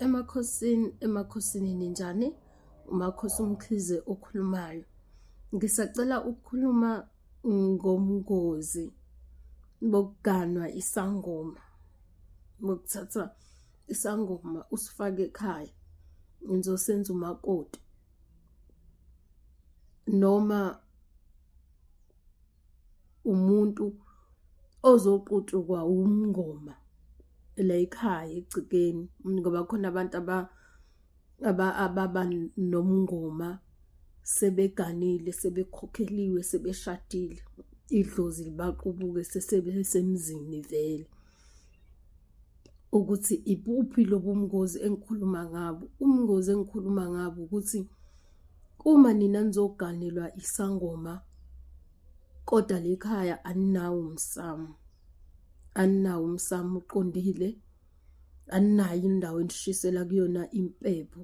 emakhosini emakhosini ninjani umakhosi umkhize okhulumayo ngisacela ukukhuluma ngomngozi bokuganwa isangoma bokuthatha isangoma usifake ekhaya ngizosenza umakoti noma umuntu ozoqutukwa umngoma la ekhaya egcikeni ngoba khona abantu aba aba ababa nomngoma sebeganile sebekhokheliwe sebeshadile idlozi libaqubuke sesebesemzini vele ukuthi ibuphi lobumngozi engikhuluma ngabo umngozi engikhuluma ngabo ukuthi uma nina nizoganelwa isangoma kodwa lekhaya aninawo umsamo aninawo umsamo uqondile aninayo indawo enishisela kuyona impepho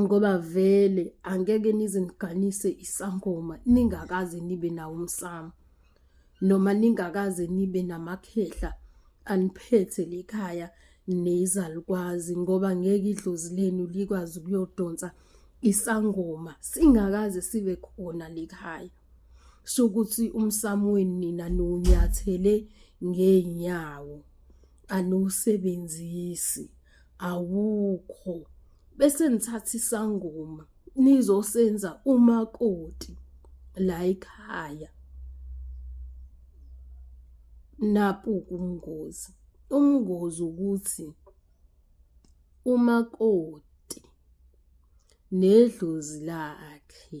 ngoba vele angeke nize niganise isangoma ningakaze nibe nawo umsamo noma ningakaze nibe namakhehla aniphethe likhaya nezalukwazi ngoba ngeke idlozi lenu likwazi ukuyodonsa isangoma singakaze sibe khona likhaya sokuthi umsamo wenu nina nonyathele ngeenyawo anusebenzisi awukho bese nithatha isangoma nizosenza umakoti la ekhaya napu kumngozi umngozi ukuthi umakoti nedlozi lakhe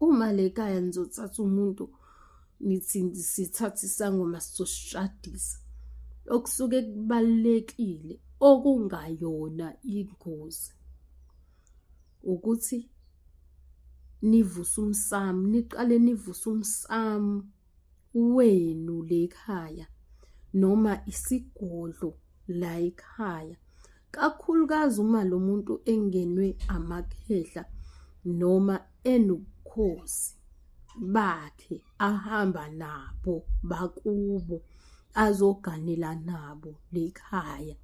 uma le kaya nizothatha umuntu nithi sithatha isangoma sizoshadisa okusuke kubalekile okungayona ingozi ukuthi nivuse umsamu niqale nivuse umsamu wenu lekhaya noma isigodlo la ekhaya kakhulukazi uma lo muntu engenwe amakhehla noma enobukhosi bakhe ahamba nabo bakubo azoganela nabo lekhaya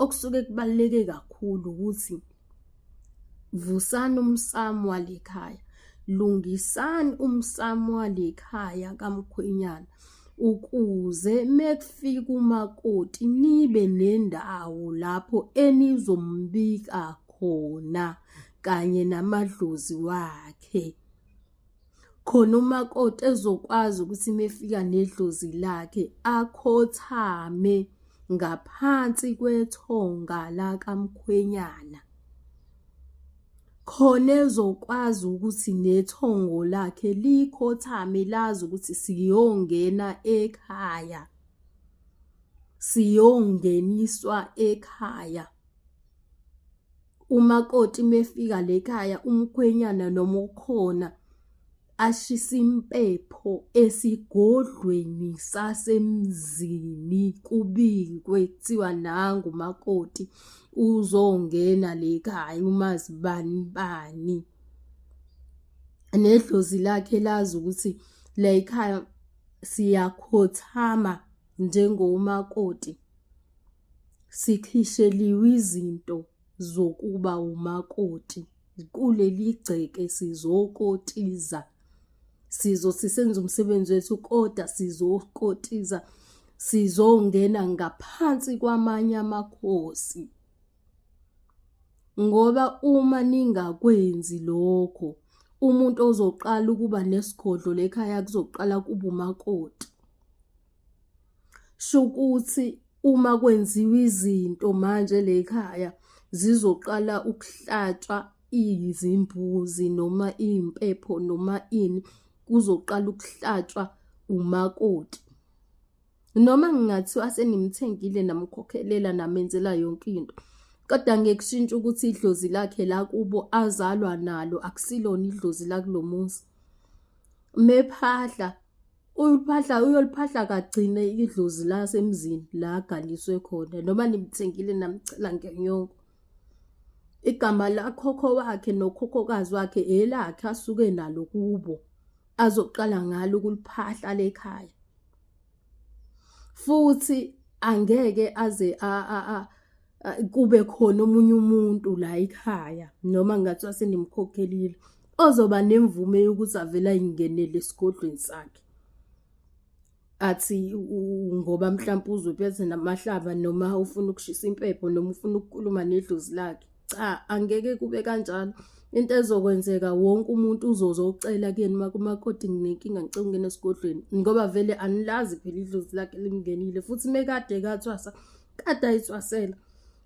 okusuke kubaluleke kakhulu ukuthi vusani umsamo walekhaya lungisani umsamo walekhaya kamkhwenyana ukuze mekufika umakoti nibe nendawo lapho enizombika khona kanye namadlozi wakhe khona umakoti ezokwazi ukuthi mefika nedlozi lakhe akhothame ngaphansi kwethonga lakamkhwenyana khona ezokwazi ukuthi nethongo lakhe likhothame lazi ukuthi siyongena ekhaya siyongeniswa ekhaya umakoti mefika lekhaya umkhwenyana noma ukhona ashisa impepho esigodlweni sasemzini kubikwe kuthiwa nangu makoti uzongena lekhaya umazibani bani nedlozi lakhe lazi ukuthi la ekhaya siyakhothama njengomakoti Sikhisheliwe izinto zokuba umakoti kuleli gceke sizokotiza sizo sisenza umsebenzi wethu kodwa sizokotiza sizongena ngaphansi kwamanye amakhosi ngoba uma ningakwenzi lokho umuntu ozoqala ukuba nesigodlo lekhaya kuzoqala kuba umakoti shukuthi uma kwenziwa izinto manje lekhaya zizoqala ukuhlatshwa izimbuzi noma impepho noma ini kuzoqala ukuhlatshwa umakoti noma ngingathiwa senimthengile namkhokhelela namenzela yonke into kodwa ngekushintsha ukuthi idlozi lakhe la kubo azalwa nalo akusilona idlozi lakulomuzi mephahla uyoliphahla uyoliphahla kagcine idlozi la semzini la agaliswe khona noma nimthengile namcela ngenyongo igama lakhokho wakhe nokhokhokazi wakhe elakhe asuke nalo kubo azoqala ngalo ukuliphahla lekhaya futhi angeke aze a a kube khona omunye umuntu la ekhaya noma ngathi wasenimkhokhelile ozoba nemvume yokuthi avele ayingenele esigodlweni sakhe athi ngoba mhlawumbe uzophethe namahlaba noma ufuna ukushisa impepho noma ufuna ukukhuluma nedlozi lakhe cha angeke kube kanjalo into ezokwenzeka wonke umuntu uzozo ucela kuyeni makumakoti nginenkinga ngicela ukungena esigodlweni ngoba vele anilazi phela idlozi lakhe limngenile futhi mekade kathwasa kade ayicwasela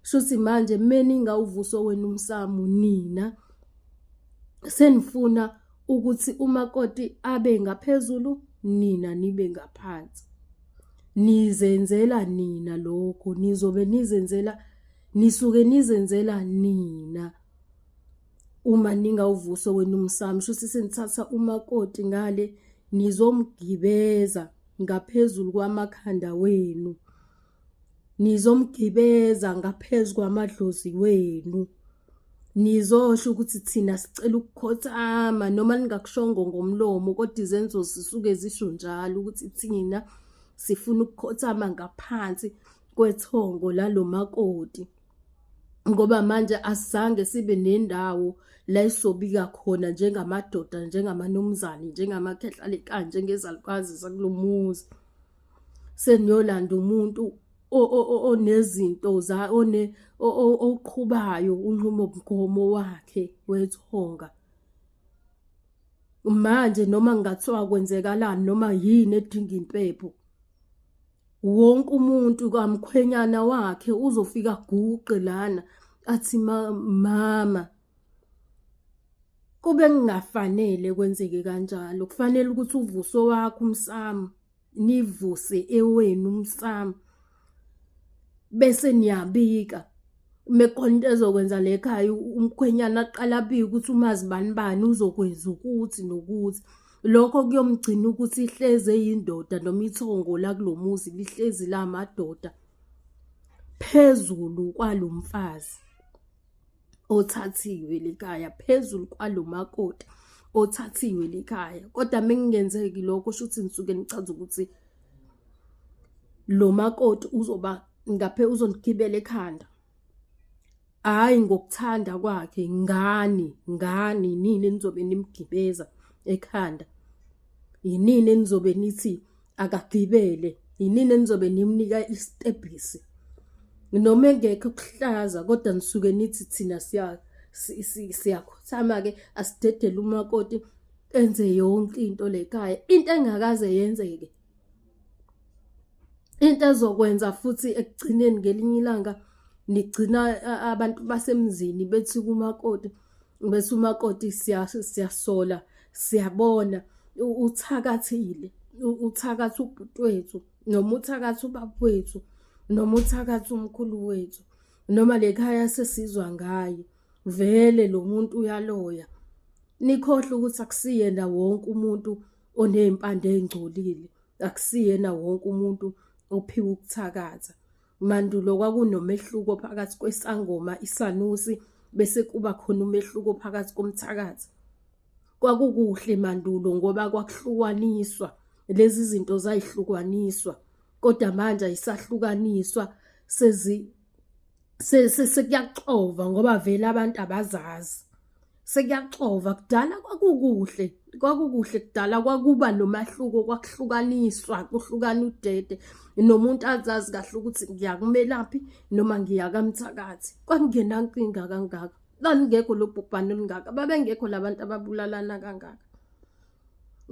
shuthi manje meninga uvuso wenu umsamu nina senifuna ukuthi umakoti abe ngaphezulu nina nibe ngaphansi nizenzela nina lokho nizobe nizenzela nisuke nizenzela nina uma ningawuvuso wenu umsamo shuthi senithatha umakoti ngale nizomgibeza ngaphezulu kwamakhanda wenu nizomgibeza ngaphezu kwamadlozi wenu nizosho ukuthi thina sicela ukukhothama noma ningakushongo ngomlomo kodwa izenzo zisuke zisho njalo ukuthi thina sifuna ukukhothama ngaphansi kwethongo lalomakoti ngoba manje asizange sibe nendawo la isobika khona njengamadoda njengamanumzane njengamakhehlalekani njengezalukazi zakulomuzi seniyolanda umuntu onezinto za one oqhubayo unqumo mgomo wakhe wethonga manje noma ngathiwa kwenzekalani noma yini edinga impepho wonke umuntu kamkhwenyana wakhe uzofika guqe lana athi mama kube kungafanele kwenzeke kanjalo kufanele ukuthi uvuso wakho umsamo nivuse ewenu umsamo bese niyabika mekonto ezokwenza le khaya umkhwenyana aqala abike ukuthi umazi bani bani uzokwenza ukuthi nokuthi lokho kuyomgcina ukuthi ihleze yindoda noma ithongo la kulomuzi lihlezi la madoda phezulu kwalomfazi othathiwe likaya phezulu kwalomakoti othathiwe likaya kodwa mengingenzeki lokho shuthi ngisuke nichaza ukuthi lo makoti uzoba ngaphe uzonigibela ekhanda hayi ngokuthanda kwakhe ngani ngani nini nizobe nimgibeza ekhanda yinini enizobe nithi akagibele yinini enizobe nimnika isitebhisi noma engekho kuhlaza kodwa nisuke nithi thina siya siyakhothama ke asidedele umakoti enze yonke into lekhaya into engakaze yenzeke into ezokwenza futhi ekugcineni ngelinye ilanga nigcina abantu basemzini bethi kumakoti bese umakoti siyasola siyabona uthakathile uthakathi ubhuti wethu noma uthakathi ubaba wethu noma uthakathi umkhulu wethu noma lekhaya sesizwa ngayo vele lo muntu uyaloya nikhohle ukuthi akusiyena wonke umuntu onezimpande ezingcolile akusiyena wonke umuntu ophiwa ukuthakatha Mandulo kwakunomehluko phakathi kwesangoma isanusi bese kuba khona umehluko phakathi komthakathi. Kwakukuhle mandulo ngoba kwakuhlukaniswa lezi zinto zayihlukaniswa kodwa manje ayisahlukaniswa sezi sekuyaxova ngoba vele abantu abazazi. sekuyaxova kudala kwakukuhle kwakukuhle kudala kwakuba nomahluko kwakuhlukaniswa kuhlukana udede nomuntu azazi kahle ukuthi ngiyakumelaphi noma ngiyakamthakathi kwakungenankinga kangaka lalingekho lobhubhane olungaka babengekho labantu ababulalana kangaka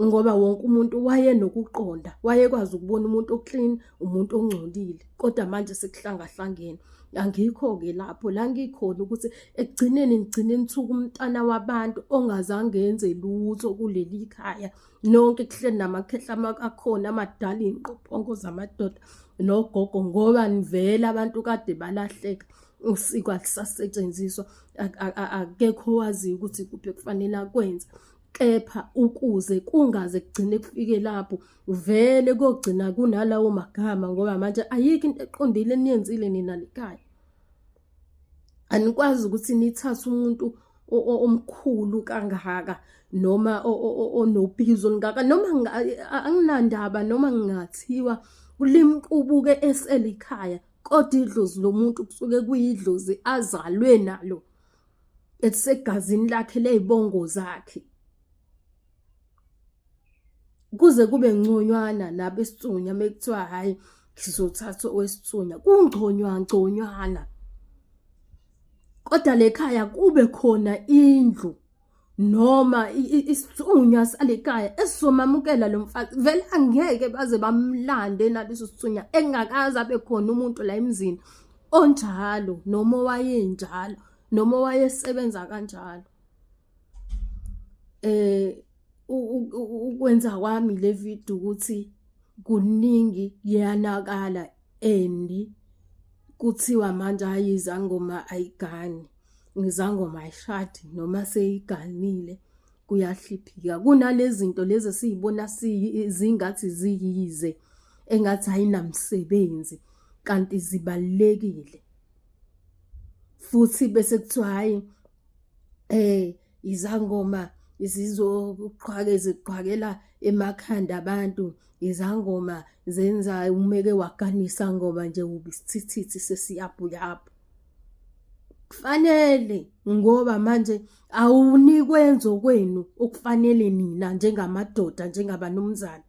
ngoba wonke umuntu wayenokuqonda wayekwazi ukubona umuntu oclean umuntu ongcolile kodwa manje sekuhlangahlangene angikho-ke lapho la ngikhona ukuthi ekugcineni ngigcine nithuka umntana wabantu ongazange enze lutho kuleli khaya nonke kuhleli namakhehla akhona amadala iy'nqophongo zamadoda nogogo ngoba nivele abantu kade balahleka usiko alisasetshenziswa akekho owaziyo ukuthi kuphi kufanele akwenze kepha ukuze kungaze kugcine kufike lapho vele kogcina kunalawo magama ngoba manje ayikho into eqondile eniyenzile nina likhaya anikwazi ukuthi nithathe umuntu omkhulu kangaka noma onobizo olungaka noma anginandaba noma ngingathiwa kulimqubuke eselikhaya kodwa idlozi lomuntu kusuke kuyidlozi azalwe nalo elisegazini lakhe ley'bongo zakhe kuze kube ngconywana nabesithunya mekuthiwa hhayi sizothatha owesithunya kungconywa ngconywana kodwa lekhaya kube khona indlu noma isithunywa salikaya esizomamukela lo mfazi vele angeke baze bamlande naleso sithunywa engakaze abe khona umuntu la emzini onjalo noma owayenjalo noma owayesebenza kanjalo eh ukwenza kwami le video ukuthi kuningi yanakala endi kuthiwa manje ayizangoma ayigani ngizangoma ayishadi noma seyiganile kuyahliphika kunalezi zinto lezi esiyibona zingathi ziyize engathi ayinamsebenzi kanti zibalekile futhi bese kuthiwa hayi eh izangoma zizoqhwake ziqhwakela emakhanda abantu izangoma zenza umeke waganisa ngoba nje ubisithithi sesiyabuyabu kufanele ngoba manje awunikwenza okwenu okufanele nina njengamadoda njengabanumzana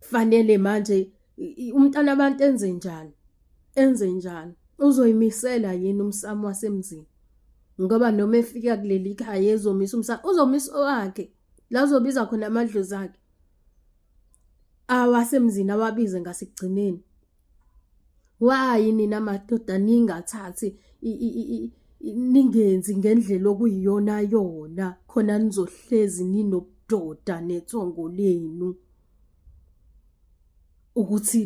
kufanele manje umntana abantu enze njani enze njani uzoyimisela yini umsamo wasemzini ngoba noma efika kuleli khaya ezomisa umsamo uzomisa owakhe la uzobiza khona amadlozi akhe awasemzini awabize ngasekugcineni wayi nina madoda ningathathi ningenzi ngendlela okuyiyona yona khona nizohlezi ninobudoda netsongo lenu ukuthi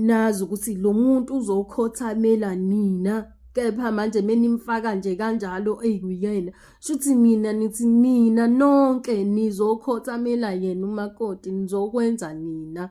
nazi ukuthi lo muntu uzokhothamela nina kepha manje menimfaka nje kanjalo eyikuyena shuthi mina nithi nina nonke nizokhothamela yena umakoti nizokwenza nina